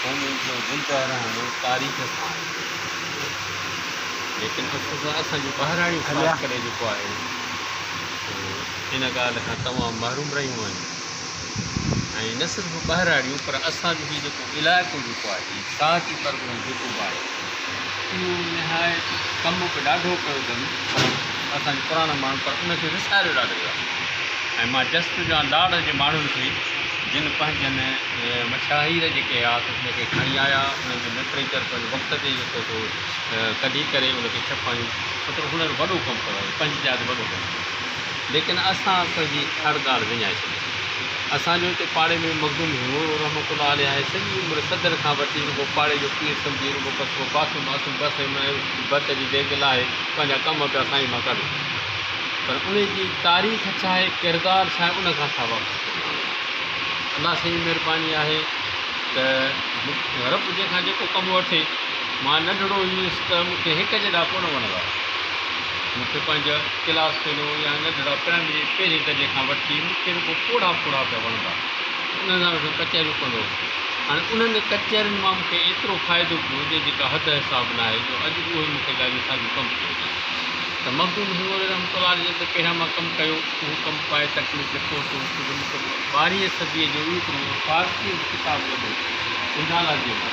قومي جو زندهه رهڻ تاريخ سان آهي ليڪن افسوس اسان جون ٻاهراڙيون خاص ڪري جيڪو آهي ان ڳالهه کان تمام محروم رهيون آهن ۽ نه صرف ٻاهراڙيون پر اسان جو هي جيڪو علائقو جيڪو آهي ساهتي پرڳڻو جيڪو به آهي اهو نهايت ڪم به ڏاڍو ڪيو اٿن پر اسان جي پراڻا ماڻهن پر ان کي وساريو ڏاڍو ويو آهي ۽ مان جسٽ جان لاڙ جي ماڻهن کي جن پنهنجن مشاهير جيڪي هياس ان کي کڻي آيا انهن جو لٽريچر پنهنجي وقت تي جيڪو سو ڪڍي ڪري ان کي ڇپائيون مطلب هنن وڏو ڪم ڪيو آهي پنهنجي جاء تي وڏو ڪم ڪيو ليڪن اسان اسان جي هر ڳالهه وڃائي ڇڏي. اسان جو هتي پاڙي ۾ مخدوم هينئون رحمة الله عليه آهي، سڄي عمر صدر کان وٺي رڳو پاڙي جو پير سمجهي رڳو بس ڪو باسو ماسو بس ۽ ڀت جي ديڳ لاهي پنهنجا ڪم پيا سائين مان ڪڍن. پر انهي جي تاريخ ڇا آهي ڪردار ڇا آهي ان کان اسان واقف ڪونه آهيون. الله سائين جي مهرباني آهي ته رب جنهن کان جيڪو ڪم وٺي مان ننڍڙو هئس ته مون کي هڪ جڏا ڪونه وڻندا هئا. مون کي پنهنجا ڪلاس فيلو يا ننڍڙا پرائمري پهرين درجي کان وٺي مون کي رڳو پوڙها پوڙها پيا وڻندا هئا. انهن سان ويٺو ڪچهريون ڪندو هوس. هاڻي انهن ڪچهرين مان مون کي ايترو فائدو پيو هجي جيڪا حد حساب ناهي جو اڄ اهي مون کي ڳالهيون ساڳيون ڪم ٿيون هجن ته مخدوم حسين مولوي رحمة الله عليه جن ته پهريان مان ڪم ڪيو اهو ڪم پائي تڪميل تي پهتو هوس ته مون کي ٻارهينء صديء جو اهو هڪڙو فارسيء جو ڪتاب لڳو اجالا جي مان.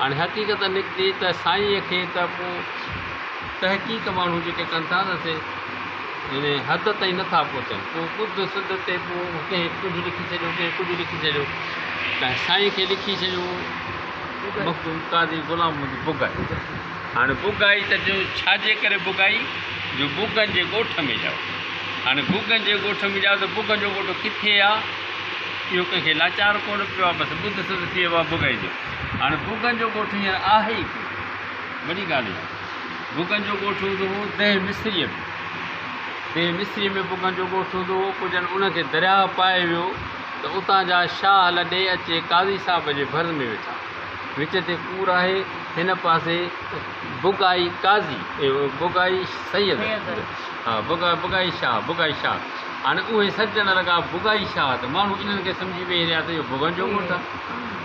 هاڻي حقيقت نڪتي ته سائينء کي ته پوء تحقيق ماڻهو جيڪي ڪن ٿا ته سي يعني حد تائين نه ٿا پهچن. پوء ٻڌ سڌ تي پوء ڪنهن ڪجهه لکي ڇڏيو ڪنهن ڪجهه لکي ڇڏيو ۽ سائين کي لکي ڇڏيو مخدوم قاضي غلام محمد بگائي. هاڻي بگائي ته جو ڇا جي ڪري بگائي جو بگن جي ڳوٺ ۾ ڄائو. هاڻي بگن جي ڳوٺ ۾ ڄائو ته بگن جو ڳوٺ ڪٿي آ اهو ڪنهن کي لاچار ڪونه پيو آ بس ٻڌ سڌ ٿي ويو آ بگائي جو. هاڻي ڀوڳن جو ڳوٺ هينئر آهي ئي ڪونه. وڏي ڳالهه اها آهي. ڀوڳن جو ڳوٺ هوندو هو ديهه مصريء ۾. ديهه مصريء ۾ ڀوڳن جو ڳوٺ هوندو هو، پوء جڏهن ان کي درياهه پائي ويو ته اتان جا شاهه لڏي اچي قاضي صاحب جي ڀر ۾ ويٺا. وچ تي ڪور آهي، هن پاسي ڀوڳائي قاضي، ڀوڳائي سيد، ڀوڳائي شاهه، ڀوڳائي شاهه. هاڻي اهي سڏجڻ لڳا ڀوڳائي شاهه ته ماڻهو انهن کي سمجهي ويهي رهيا ته اهو ڀوڳن جو ڳوٺ آهي.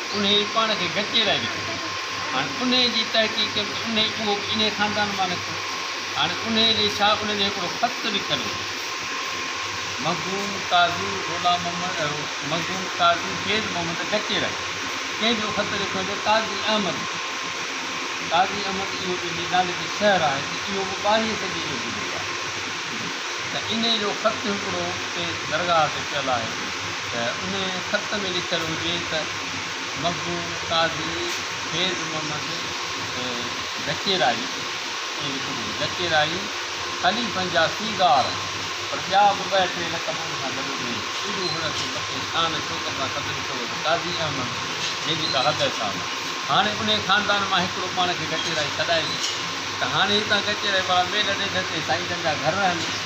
انهيء ئي پاڻ کي ڳچيء لاء به ٿيندو هو. هاڻي انهيء جي تحقيق ڪيم ته انهيء اهو به انهيء خاندان مان نڪتو. هاڻي انهيء لئي شاهه انهيء جو هڪڙو خط به ڪڍي ڏنو. مخدوم قاضي غلام محمد مخدوم قاضي سيد محمد ڳچيء لاء ڪنهن جو خط لکيو آهي ته قاضي احمد جو. قاضي احمد اهو به جي نالي تي شهر آهي ته اهو به ٻارهينء صديء جو گذريو آهي ته انهيء جو خط هڪڙو اتي درگاهه تي پيل آهي. ته ان خط ۾ لکيل هجي ته مخدوم قاضي فيض محمد ڌڪيرائي، ائين لکيل هجي، ڌڪيرائي خليفن جا سيگار پر ٻيا به ٻه ٽي لقب ان سان گڏ ڏئي، ايڏو هن کي بخشي شان شوڪت سان صدر ڪيو ته قاضي احمد جي جيڪا حد حساب آهي. هاڻي انهي خاندان مان هڪڙو پاڻ کي ڌڪيرائي سڏائي ته هاڻي هتان ڌڪيرائي وارا ميل ڏيڍ تي سائينجن جا گهر رهن.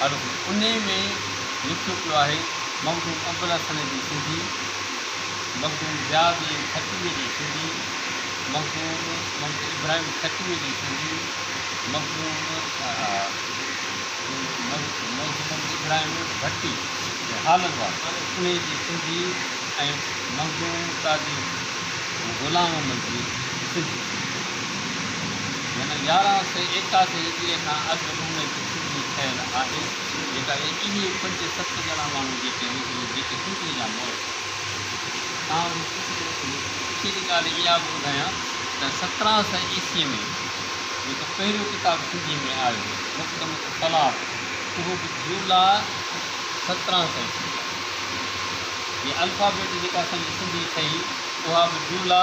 انهيء ۾ لکيو پيو آهي، مخدوم ابوالحسن جي سنڌي، مخدوم ضياءالدين کٽويء جي سنڌي، مخدوم محمد ابراهيم کٽويء جي سنڌي، مخدوم محمد ابراهيم ڀٽي، هالن وار، انهيء جي سنڌي ۽ مخدوم قاضي غلام محمد جي سنڌي، يعني يارهن سئي ايڪاهه جي هجريء کان اڳ ۾ جو. سڌي ٺهيل آهي جيڪا اهي پنج ست ڄڻا ماڻهو جيڪي هن جي جيڪي سنڌي جا مور ٿا تکي جي ڳالهه اها به ٻڌايان ته سترهن سئي عيسي ۾ جيڪو پهريون ڪتاب سنڌي ۾ آيو مقدمه الطلاق اهو به جولا سترهن سئي جي الفابيٽ جيڪا اسان جي سنڌي ٺهي اها به جولا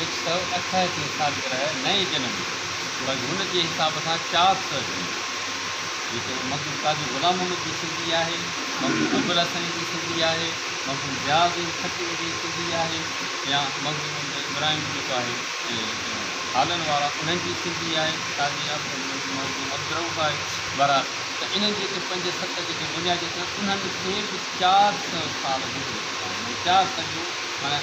هڪ سؤ اٺهٺين سالگرهه نئين جنم بس هن جي حساب سان چار سؤ جنم جيڪو مرحوم قاضي غلام محمد جي سنڌي آهي مرحوم ابوالحسن جي سنڌي آهي مرحوم ضياء الدين خٽڪ جي سنڌي آهي يا مرحوم ابراهيم جيڪو آهي هالن وارا انهن جي سنڌي آهي قاضي مرحوم عبدالروف آهي وارا ته انهن جيڪي پنج ست جيڪي بنيادي انهن کي به چار سؤ سال گذري چڪا آهن چار سؤ جو معنيٰ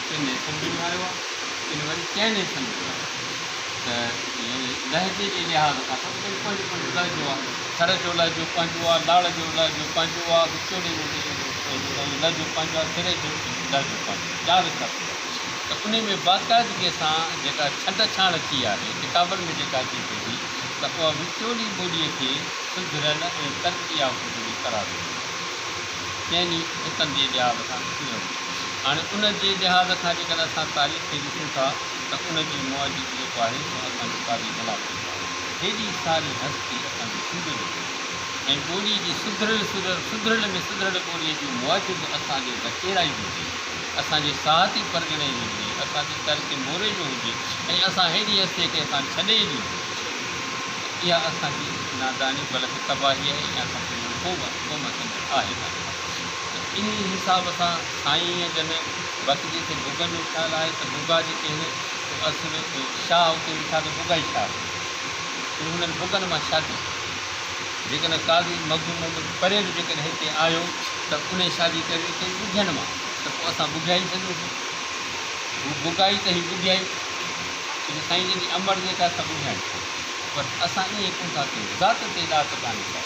ڪن حصن ۾ وهايو آهي، ڪن وري چئن حصن ۾ وهايو آهي ته يعني لهجي جي لحاظ کان سڀ ڪجهه پنهنجو پنهنجو لهجو آهي. سر جو لهجو پنهنجو آهي، لاڙ جو لهجو پنهنجو آهي، وچولي جو لهجو پنهنجو آهي، سري جو لهجو پنهنجو آهي، چار حصا ٿي ويا ته انهي ۾ باقاعدگيء سان جيڪا ڇنڊ ڇاڻ اچي آهي ڪتابن ۾ جيڪا اچي ٿي ٿي ته اها وچولي ٻوليء کي سڌريل ۽ ترقي يافته ٻولي قرار ڏنو ويو آهي. چئني حصن جي لحاظ کان ڏسجي وڃي ته. هاڻي ان جي لحاظ کان جيڪڏهن اسان تاريخ کي ڏسون ٿا ته ان جي موجب جيڪو آهي سو اسان جي قاضي بلا ٿيندو آهي. هيڏي ساري هستي اسان جي سنڌ ۾ هئي ۽ ٻولي جي سڌريل سريل سڌريل ۾ سڌريل ٻولي جي موجب اسان جي بچيرائي هجي، اسان جي ساهتي پرڳڻي جي هجي، اسان جي ترڪ موري جو هجي ۽ اسان هيڏي هستي کي اسان ڇڏي ئي ڏنو ته اها اسان جي ناداني بلڪ تباهي آهي ۽ اسان پنهنجو قوم سمجهڻ آهي ڪانه. انهي حساب سان سائين جن وقت جتي گگن جو خيال آهي ته گگا جيڪي هن سو اصل شاهه اتي ويٺا ته گگا ئي شاهه ٿيو ۽ هنن گگن مان شادي ڪئي جيڪڏهن قاضي مخدوم محمد پري به جيڪڏهن هتي آيو ته انهي شادي ڪري ڪئي ٻگهين مان ته پوء اسان ٻگهيا ئي سڏيون ٿا هو گگا ئي ته هي ٻگهيا ئي ڇو جو سائين جن جي امڙ جيڪا سا ٻگهيا ئي پر اسان ائين ڪونه ٿا ڪيون ذات تي ڏات ڪانهي ڪا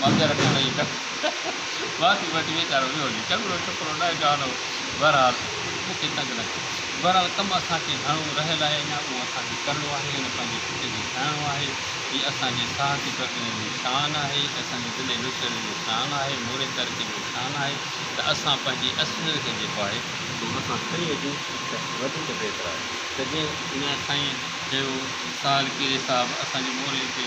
مانجهر ۾ ويهي ڪنڌ ماٿي وٺي ويچارو ويو هجي چڱڙو ڇپرو نه جوان هو بهرحال مون کي تنگ نه ڪيو بهرحال ڪم اسان کي گهڻو رهيل آهي اڃا اهو اسان کي ڪرڻو آهي ان پنهنجي پٽ کي کائڻو آهي هي اسان جي ساهتي ڪرتين جو شان آهي اسان جي ضلعي نوشهري جو شان آهي موري تعلقي جو شان آهي ته اسان پنهنجي اصليت کي جيڪو آهي اهو مٿان کڻي اچون ته وڌيڪ بهتر آهي ته جيئن سائين چيو سال ڪيري صاحب اسان جي موري تي